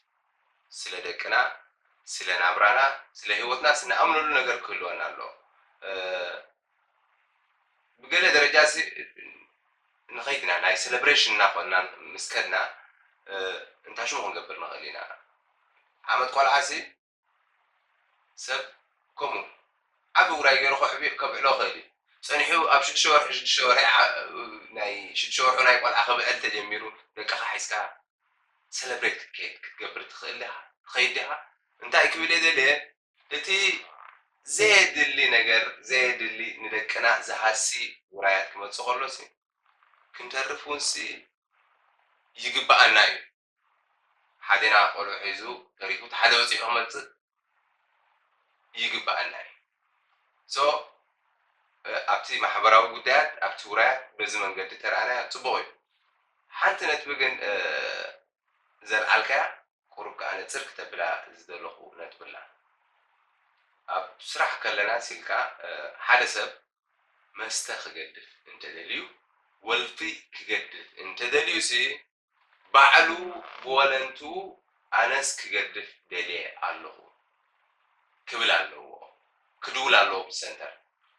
ስለ ደቅና፣ ስለ ናብራና፣ ስለ ህይወትናስ ንኣምነሉ ነገር ክህልወና ኣለዎ። ብገለ ደረጃሲ ንኸይድና ናይ ሰለብሬሽን እናኾንና ምስ ከድና እንታይ ሽሙ ክንገብር ንኽእል ኢና? ዓመት ቆልዓሲ? ሰብ ከምኡ ዓቢ ውራይ ገይሩ ከዕብዮ ከብዕሎ ይኽእል እዩ። ጸኒሑ ኣብ ሽዱሽተ ወርሒ ሽዱሽተ ወርሒ ናይ ሽዱሽተ ወርሑ ናይ ቆልዓ ክብዕል ተጀሚሩ ደቅኻ ሒዝካ ሰለብሬት ክትከይድ ክትገብር ትኽእል ዲኻ ትኸይድ ዲኻ እንታይ ክብል እየ ደልየ እቲ ዘየድሊ ነገር ዘየድሊ ንደቅና ዝሃሲ ውራያት ክመጽእ ከሎሲ ክንተርፍ ውንሲ ይግብኣና እዩ። ሓዴና ቆልዑ ሒዙ ተሪፉ እቲ ሓደ በጺሑ ክመጽእ ይግበኣና እዩ so ኣብቲ ማሕበራዊ ጉዳያት ኣብቲ ውራያት በዚ መንገዲ ተረኣናዮ ጽቡቕ እዩ ሓንቲ ነጥቢ ግን ዘልዓልካያ ቁሩብ ከኣ ንጽር ክተብላ ዝደለኹ ነጥቢ ኣላ ኣብ ስራሕ ከለና ሲልካ ሓደ ሰብ መስተ ክገድፍ እንተደልዩ ወልፊ ክገድፍ እንተደልዩሲ ባዕሉ ብወለንትኡ ኣነስ ክገድፍ ደልየ ኣለኹ ክብል ኣለዎ፣ ክድውል ኣለዎ ኣብቲ ሰንተር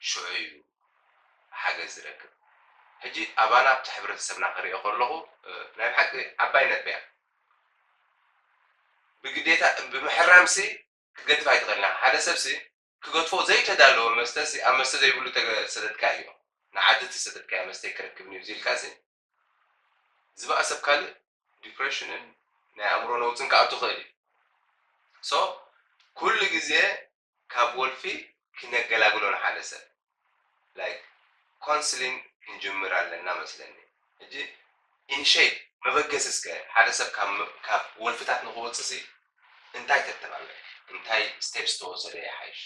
ሽዑ እዩ ሓገዝ ዝረክብ። ሕጂ ኣባና ኣብቲ ሕብረተሰብና ክርእዮ ከለኹ ናይ ብሓቂ ዓባይ ነጥቢ እያ። ብግዴታ ብምሕራምሲ ክትገድፍ ኣይትኽእልን ኢኻ፣ ሓደ ሰብሲ ክገድፎ ዘይተዳለወ መስተሲ ኣብ መስተ ዘይብሉ ተሰደድካ እዩ ንዓዲ ተሰደድካዮ መስተይ ክረክብኒ እዩ ኢልካሲ ዝበኣሰ ብ ካልእ ዲፕረሽንን ናይ ኣእምሮ ነውጽን ክኣቱ ይኽእል እዩ so ኩሉ ግዜ ካብ ወልፊ ክነገላግሎ ንሓደ ሰብ like counseling ክንጅምር ኣለና መስለኒ ሕጂ initiate መበገሲ እስከ ሓደ ሰብ ካብ ወልፍታት ንኽወጽእሲ እንታይ ተተባብዕ እንታይ steps ተወሰደ ይሓይሽ?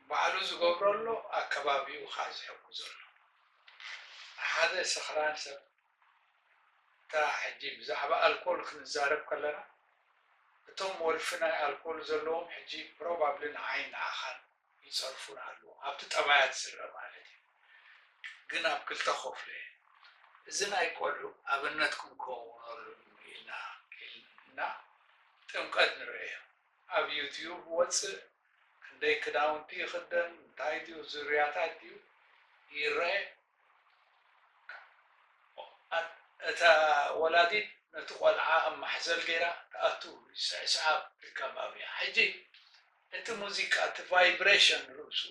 ባዕሉ ዝገብሮ ኣሎ ኣከባቢኡኻ ዝሕግዞ ኣሎ። ሓደ ሰኽራን ሰብ እታ ሕጂ ብዛዕባ ኣልኮል ክንዛረብ ከለና እቶም ወልፊ ናይ ኣልኮል ዘለዎም ሕጂ ፕሮባብሊ ንዓይን ንዓኻን ይጸርፉና ኣለዉ ኣብቲ ጠባያት ዝርኣ ማለት እዩ ግን ኣብ ክልተ ኮፍለ እዚ ናይ ቆልዑ ኣብነት ክንከውነሉ ኢልና ኢልና ጥምቀት ንርእዮ ኣብ ዩትዩብ ወጽእ ክንደይ ክዳውንቲ ይኽደን እንታይ ድዩ ዙርያታት ድዩ ይረኤ እታ ወላዲት ነቲ ቆልዓ ኣብ ማሕዘል ገይራ ትኣቱ ይስዕስዓ ኢልካ ባብያ ሕጂ እቲ ሙዚቃ እቲ ቫይብሬሽን ርእሱ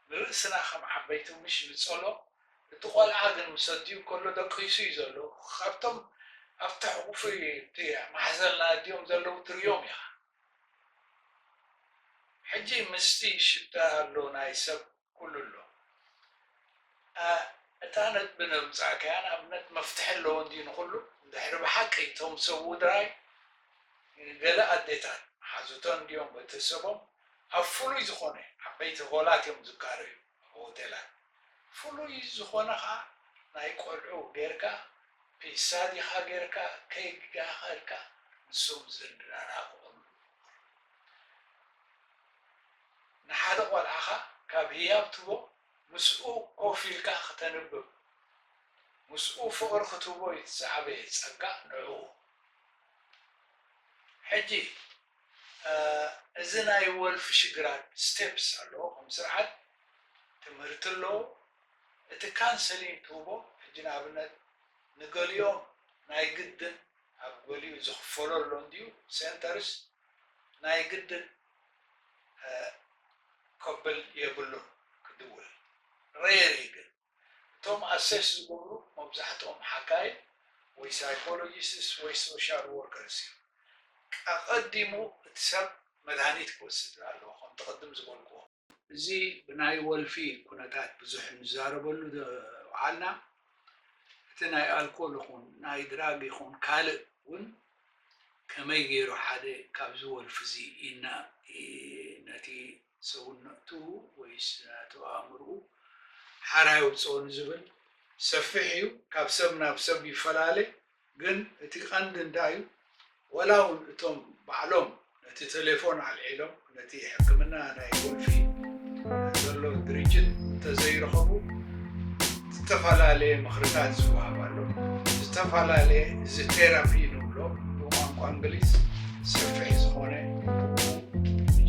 ንርእስና ከም ዓበይቲ ምሽ ንጸሎ እቲ ቆልዓ ግን ምስ ኣዲኡ ከሎ ደቂሱ እዩ ዘሎ ካብቶም ኣብቲ ሕቑፊ እቲ ማሕዘል ንኣዲኦም ዘለዉ ትርእዮም ኢኻ ሕጂ ምስቲ ሽታ ኣሎ ናይ ሰብ ኩሉ ኣሎ እታ ነጥቢ ነብጻእካያ ንኣብነት መፍትሒ ኣለዎ እንድዩ ንኹሉ እንድሕሪ ብሓቂ እቶም ሰውድራይ ገለ ኣዴታት ሓዙተን እንድዮም ቤተሰቦም ኣብ ፍሉይ ዝኾነ ዓበይቲ ሆላት እዮም ዝካረዩ ሆቴላት ፍሉይ ዝኾነ ከኣ ናይ ቆልዑ ጌርካ ፒሳ ዲኻ ጌርካ ኬክ ዲኻ ኢልካ ንሶም ዘደናግሩሉ ንሓደ ቆልዓኻ ካብ ህያብ ትቦ ምስኡ ኮፍ ኢልካ ክተንብብ ምስኡ ፍቕሪ ክትህቦ ኢዩ እቲ ዝዓበየ ጸጋ ንዕኡ ሕጂ እዚ ናይ ወልፊ ሽግራት ስቴፕስ ኣለዎ ከም ስርዓት ትምህርቲ ኣለዎ እቲ ካንሰሊን ትህቦ ሕጂ ንኣብነት ንገሊኦም ናይ ግድን ኣብ ገሊኡ ዝኽፈሎ ኣሎ እንድዩ ሴንተርስ ናይ ግድን ከብል የብሉን ክድውል ሬር እዩ ግን እቶም ኣሴስ ዝገብሩ መብዛሕትኦም ሓካይም ወይ ሳይኮሎጂስስ ወይ ሶሻል ዎርከርስ እዮም። ቀቐዲሙ እቲ ሰብ መድሃኒት ክወስድ ኣለዎ ከምቲ ቅድም ዝበልክዎ። እዚ ብናይ ወልፊ ኩነታት ብዙሕ ንዛረበሉ ዝውዓልና እቲ ናይ ኣልኮል ይኹን ናይ ድራግ ይኹን ካልእ እውን ከመይ ገይሩ ሓደ ካብዚ ወልፊ እዚ ይናእ ነቲ ሰውነቱ ወይስ ናቱ ኣእምርኡ ሓራ የውጽኦ ንዝብል ሰፊሕ እዩ ካብ ሰብ ናብ ሰብ ይፈላለ ግን እቲ ቀንዲ እንታይ እዩ ወላ ውን እቶም ባዕሎም ነቲ ተሌፎን ኣልዒሎም ነቲ ሕክምና ናይ ቁልፊ ዘሎ ድርጅት እንተዘይረኸቡ ዝተፈላለየ ምኽርታት ዝወሃብ ኣሎ። ዝተፈላለየ እዚ ቴራፒ ንብሎ ብቋንቋ እንግሊዝ ሰፊሕ ዝኾነ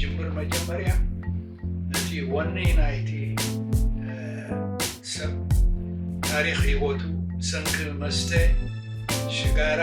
ጅምር መጀመርያ እቲ ወኒ ናይቲ ሰብ ታሪክ ሂወቱ ብሰንኪ መስተ ሽጋራ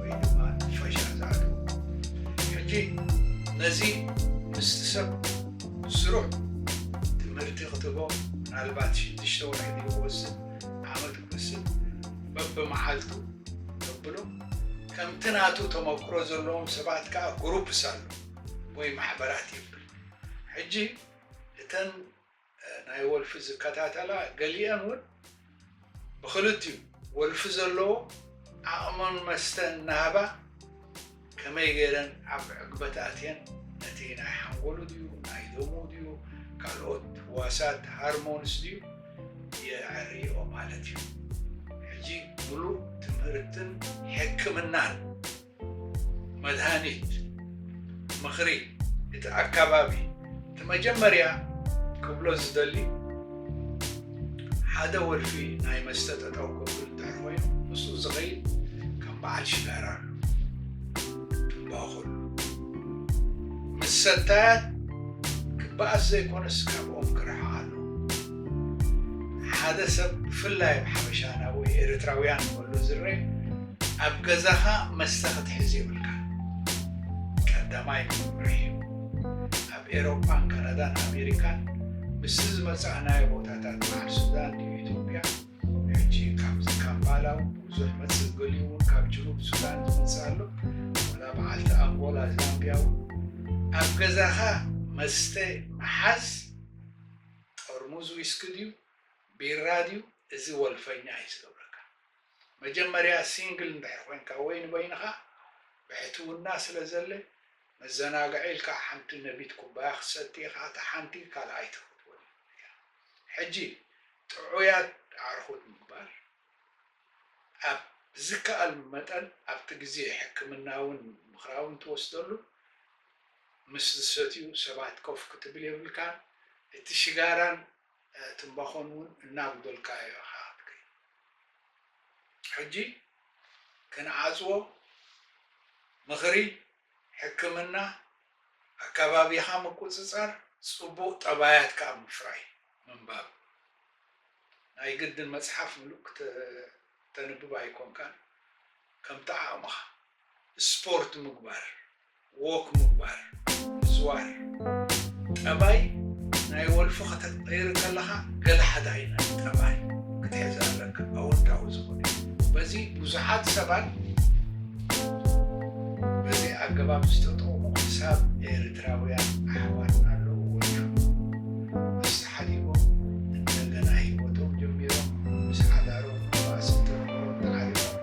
ወይ ድማ ንፈሻ ዝኣተወ ሕጂ ነዚ ምስቲ ሰብ ስሩዕ ትምህርቲ ክትቦ ምናልባት ሽዱሽተ ወርሒ ድዩ ክወስድ ዓመት ክወስድ በብመዓልቱ ተብሎ ከምቲ ናቱ ተመክሮ ዘለዎም ሰባት ከዓ ግሩፕስ ኣሎ ወይ ማሕበራት ይብል ሕጂ እተን ናይ ወልፊ ዝከታተላ ገሊኤን እውን ብኽልቲኡ ወልፊ ዘለዎ ዓቕመን መስተ እናሃባ ከመይ ገይረን ኣብ ዕግበት ኣትየን ነቲ ናይ ሓንጎሉ ድዩ ናይ ደሙ ድዩ ካልኦት ህዋሳት ሃርሞንስ ድዩ የዐርይኦ ማለት እዩ። ሕጂ ምሉእ ትምህርትን ሕክምናን መድሃኒት ምኽሪ እቲ ኣካባቢ እቲ መጀመርያ ክብሎ ዝደሊ ሓደ ወልፊ ናይ መስተ ጠጠው ክብል እንድሕር ኮይኑ ምስኡ ዝኸይድ ከም በዓል ሽጋራ ኣሎ ትንባኹሉ ምስ ሰታያት ክበኣስ ዘይኮነስ ካብኦም ክርሕቕ ኣሎ ሓደ ሰብ ብፍላይ ኣብ ሓበሻና ወይ ኤርትራውያን ከሎ ዝረአ ኣብ ገዛኻ መስተ ክትሕዝ የብልካን። ቀዳማይ መምርሒ፣ ኣብ ኤሮፓን ካናዳን ኣሜሪካን ምስ ዝመጻእናዮ ቦታታት በዓል ሱዳን ድዩ ኢትዮጵያ ሕጂ ካብዚ ካምፓላ እውን ብዙሕ መጽእ ገሊኡ እውን ካብ ጅኑብ ሱዳን ዝመጽእ ኣሎ ወላ በዓልቲ ኣንጎላ ዛምቢያ እውን ኣብ ገዛኻ መስተ ምሓዝ ጥርሙዝ ዊስኪ ድዩ ቢራ ድዩ እዚ ወልፈኛ እዩ ዝገብረካ መጀመርያ ሲንግል እንድሕር ኮንካ ወይ ንበይንኻ ብሕትውና ስለ ዘለ መዘናግዒ ኢልካ ሓንቲ ነቢት ኩባያ ክትሰቲ ኢኻ እታ ሓንቲ ካልኣይቲ ክትወን እያ ሕጂ ጥዑያት ኣዕርኹት ምግባር ኣብ ዝከኣል መጠን ኣብቲ ግዜ ሕክምናውን ምኽራውን ትወስደሉ ምስ ዝሰትዩ ሰባት ኮፍ ክትብል የብልካን እቲ ሽጋራን ትምባኾን ውን እናጉደልካዮ ኢኻ ክትከይድ። ሕጂ ክንዓጽዎ ምኽሪ ሕክምና ኣካባቢኻ ምቁጽጻር ጽቡቕ ጠባያት ከኣ ምፍራይ ምንባብ። ናይ ግድን መጽሓፍ ምሉእ ክተንብብ ኣይኮንካን ከምቲ ዓቕምኻ። ስፖርት ምግባር። ዎክ ምባል ምዝዋር ጠባይ ናይ ወልፊ ከተቅይር ከለኻ ገለ ሓደ ዓይነት ጠባይ ክትሕዝ ኣለካ ኣወንታዊ ዝኾነ በዚ ብዙሓት ሰባት በዚ ኣገባብ ዝተጠቕሙ ክሳብ ኤርትራውያን ኣሕዋትና ኣለዉ ወልፊ ኣስተሓሊቦም እንደገና ሂወቶም ጀሚሮም ምስ ሓዳሮም ባእሲ ተንበሮም ተዓሪቦም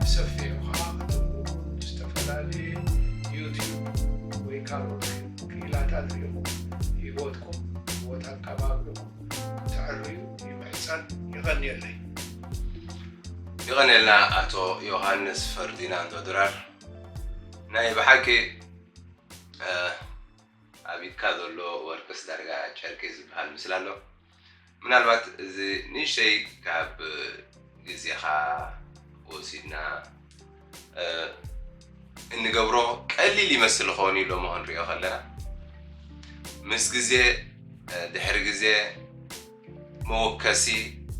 ብሰፊሑ ከኣ ከተንብቡን ብዝተፈላለየ ዩቱብ ወይ ካልኦት ክኢላታት ርኢኹም ሂወትኩም ሂወት ኣቀባብርኹም ክተዐርዩ ይምሕጸን። የቐንየለይ። የቐንየልና ኣቶ ዮሃንስ ፈርዲናንዶ ድራር ናይ ብሓቂ ኣብ ኢድካ ዘሎ ወርቅስ ዳርጋ ጨርቂ ዝብሃል ምስላ ኣሎ። ምናልባት እዚ ንእሽተይ ካብ ግዜኻ ወሲድና እንገብሮ ቀሊል ይመስል ኸውን እዩ ሎሞ ክንሪኦ ከለና ምስ ግዜ ድሕሪ ግዜ መወከሲ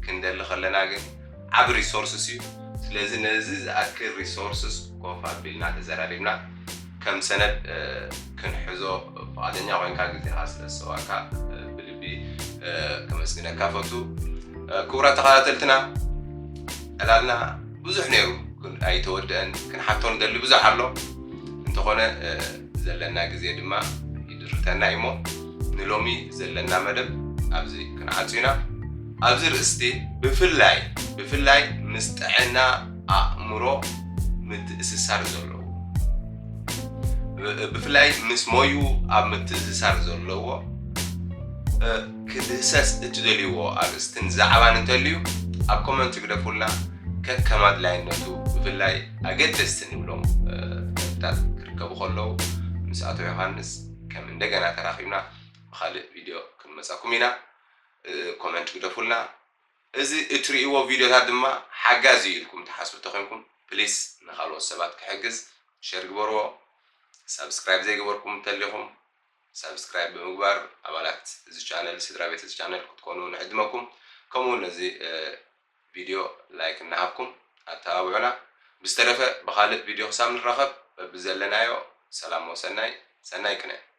ክንደሊ ከለና ግን ዓብ ሪሶርስስ እዩ ስለዚ ነዚ ዝኣክል ሪሶርስስ ኮፍ ኣቢልና ተዘራሪብና ከም ሰነድ ክንሕዞ ፍቓደኛ ኮይንካ ግዜኻ ስለ ዝሰዋእካ ብልቢ ከመስግነካ ፈቱ። ክቡራት ተኸታተልትና ዕላልና ብዙሕ ነይሩ ግን ኣይተወድአን። ክንሓቶ ንደሊ ብዙሕ ኣሎ እንተኾነ ዘለና ግዜ ድማ ይድርተና እዩ እሞ ንሎሚ ዘለና መደብ ኣብዚ ክንዓጹ ኢና። ኣብዚ ርእስቲ ብፍላይ ብፍላይ ምስ ጥዕና ኣእምሮ ምትእስሳር ዘለዎ ብፍላይ ምስ ሞዩ ኣብ ምትእስሳር ዘለዎ ክድህሰስ እትደልይዎ ኣርእስትን ዛዕባን እንተልዩ ኣብ ኮመንት ግደፉልና ከከም ኣድላይነቱ ብፍላይ ኣገደስቲ ንብሎም ነጥብታት ክርከቡ ከለዉ ምስ ኣቶ ዮሃንስ ከም እንደገና ተራኺብና ብካልእ ቪድዮ ክንመፃኩም ኢና ኮመንት ግደፉልና እዚ እትርእይዎ ቪድዮታት ድማ ሓጋዚ እዩ ኢልኩም ትሓስቡ እንተኾይንኩም ፕሊስ ንኻልኦት ሰባት ክሕግዝ ሸር ግበርዎ። ሳብስክራይብ ዘይገበርኩም እንተሊኹም ሳብስክራይብ ብምግባር ኣባላት እዚ ቻነል ስድራቤት እዚ ቻነል ክትኮኑ ንዕድመኩም። ከምኡውን ነዚ ቪድዮ ላይክ እናሃብኩም ኣተባብዑና። ብዝተረፈ ብኻልእ ቪድዮ ክሳብ ንራኸብ በብዘለናዮ ሰላም ወሰናይ ሰናይ ቅነ።